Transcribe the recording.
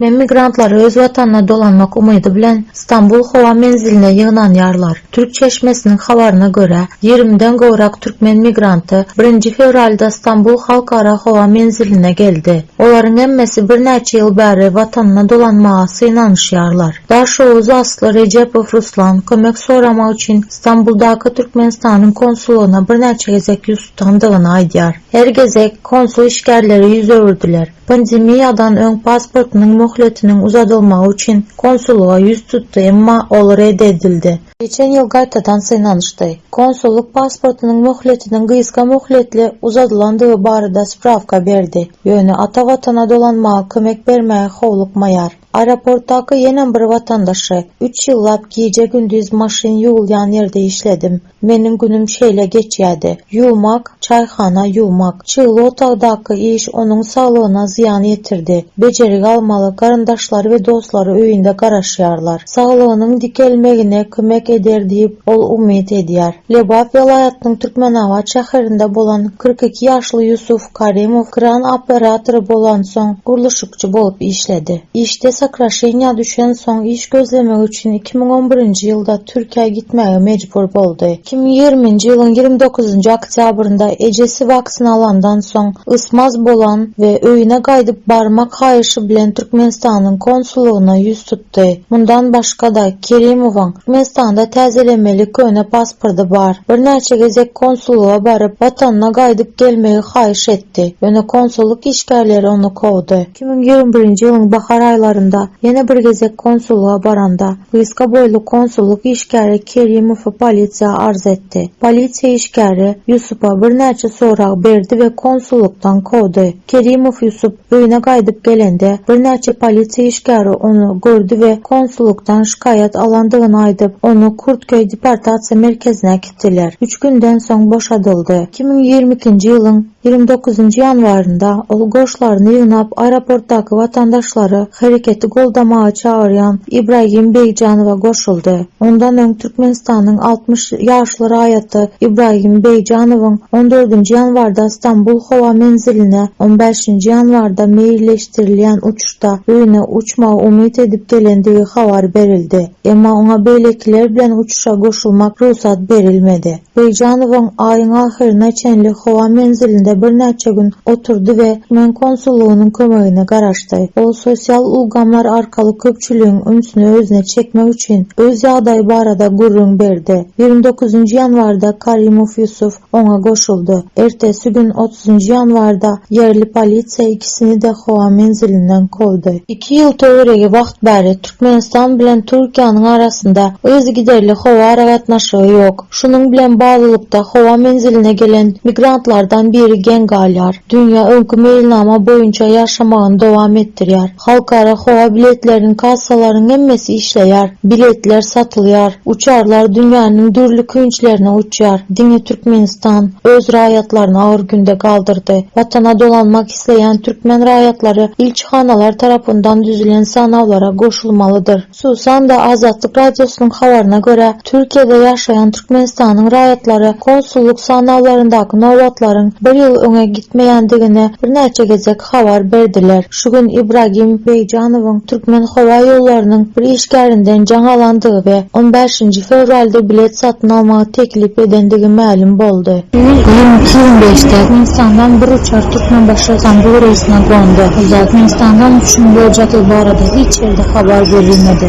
Men migrantlar öz watanyna dolanmak umydy bilen Stambul howa menziline ýygnanýarlar. Türk çeşmesiniň habaryna görä, ýigrimiden gowrak türkmen migranty birinji fewralda Stambul halkara howa menziline geldi. Olaryň hemmesi birnäçe ýyl bäri watanyna dolanmaga synanyşýarlar. Daşoguz asly Rejepow Ruslan kömek soramak üçin Stambuldaky Türkmenistanyň konsulygyna birnäçe gezek ýüz tutandygyny aýdýar. Her gezek konsul işgärleri ýüz öwürdiler. Pandemiýadan öň pasportynyň möhletiniň uzadylmagy üçin konsullyga ýüz tutdy, emma ol red edildi. Geçen ýyl gaýtadan synanyşdy. Konsullyk pasportynyň möhletiniň gysga möhletli uzadylandygy barada sprawka berdi, ýöne ata Watana dolanmaga kömek bermäge howlukmaýar. Aeroportdaky ýenem bir watandaşy, Üç ýyllap gije-gündiz maşyn ýuwulýan ýerde işledim. Meniň günüm şeýle geçýärdi. Ýuwmak, çaýhana ýuwmak. Çygly otagdaky iş onuň saglygyna zyýan ýetirdi. Bejergi almaly, garyndaşlary we dostlary öýünde garaşýarlar. Saglygynyň dikelmegine kömek eder diýip, ol umyt edýär. Lebap welaýatynyň Türkmenabat şäherinde bolan kyrk iki ýaşly Ýusuf, Karimow kran operatory bolansoň, gurluşykçy bolup işledi. Işde sokraşeniýa düşensoň, iş gözlemek üçin iki müň on birinji ýylda Türkiýä gitmäge mejbur boldy. Iki müň ýigriminji ýylyň ýigrimi dokuzynjy oktýabrynda ejesi waksina alandan soň, ysmaz bolan we öýüne gaýdyp barmak haýyşy bilen Türkmenistanyň konsullygyna ýüz tutdy. tutdy. Mundan başga-da, Kerimowyň Türkmenistanda täzelemeli köne pasporty bar. Birnäçe gezek konsullyga baryp, watanyna gaýdyp gelmegi haýyş etdi, ýöne konsullyk işgärleri ony kowdy. Iki müň ýigrimi birinji ýylyň bahar aýlarynda ýene bir gezek konsullyga baranda, gysga boýly konsullyk işgäri Kerimowy polisiýa arz etdi. Polisiýa işgäri Ýusupa birnäçe sorag berdi we konsullykdan kowdy. Kerimow Ýusup Öýüne gaýdyp gelende, birnäçe polisiýa işgäri ony gördi we konsullykdan şikaýat alandygyny aýdyp, ony Kurtköý deportasiýa merkezine äkitdiler. Üç günden soň boşadyldy. Iki müň ýigrimi ikinji ýylyň ýigrimi dokuzynjy ýanwarynda ol goşlaryny ýygnap, aeroportdaky watandaşlary hereketi goldamaga çagyrýan Ibragim Begjanowa goşuldy. Ondan öň, Türkmenistanyň altmyş ýaşly raýaty Ibragim Beýjanowyň on dördünji ýanwarda Stambul howa menziline, on bäşinji ýanwarda meýilleşdirilýän uçuşda öýüne uçmagy umyt edip gelendigi habar berildi. Emma oňa beýlekiler bilen uçuşa goşulmak rugsat berilmedi. Beýjanowyň aýyň ahyryna çenli howa menzilinde birnäçe gün oturdy we türkmen konsullygynyň kömegine garaşdy. Ol sosial ulgamlar arkaly köpçüligiň ünsüni özüne çekmek üçin, öz ýagdaýy barada gürrüň berdi. Ýigrimi dokuzynjy ýanwarda Karimow Ýusuf oňa goşuldy. Ertesi gün, otuzynjy ýanwarda, ýerli polisiýa ikisini-de howa menzilinden kowdy. Iki ýyl töweregi wagt bäri, Türkmenistan bilen Türkiýäniň arasynda yzygiderli howa aragatnaşygy ýok. Şunuň bilen baglylykda howa menziline gelen migrantlardan biri geň galýar. Dünýä öňki meýilnama boýunça ýaşamagyny dowam etdirýär. Halkara howa biletleriniň kassalarynyň hemmesi işleýär. Biletler satylýar. Uçarlar dünýäniň dürli künçlerine uçýar. Diňe Türkmenistan öz raýatlaryny agyr günde galdyrdy. Watana dolanmak isleýän türkmen raýatlary ilçihanalar tarapyndan düzülen sanawlara goşulmalydyr. Hususan-da, Azatlyk Radiosynyň habaryna görä, Türkiýede ýaşaýan Türkmenistanyň raýatlary konsullyk sanawlaryndaky nobatlaryň bir ýyl öňe gitmeýändigini birnäçe gezek habar berdiler. Şu gün Ibragim Beýjanowyň Türkmenhowaýollarynyň bir işgärinden jaň alandygy we on bäşinji fewralda bilet satyn almagy teklip edendigi mälim boldy. Ýüz ýigrimi iki gün geçdi. Türkmenistandan bir uçar Türkmenbaşy, Stambul reýsine gondy. Türkmenistandan uçuşyň boljadygy barada hiç ýerde habar berilmedi.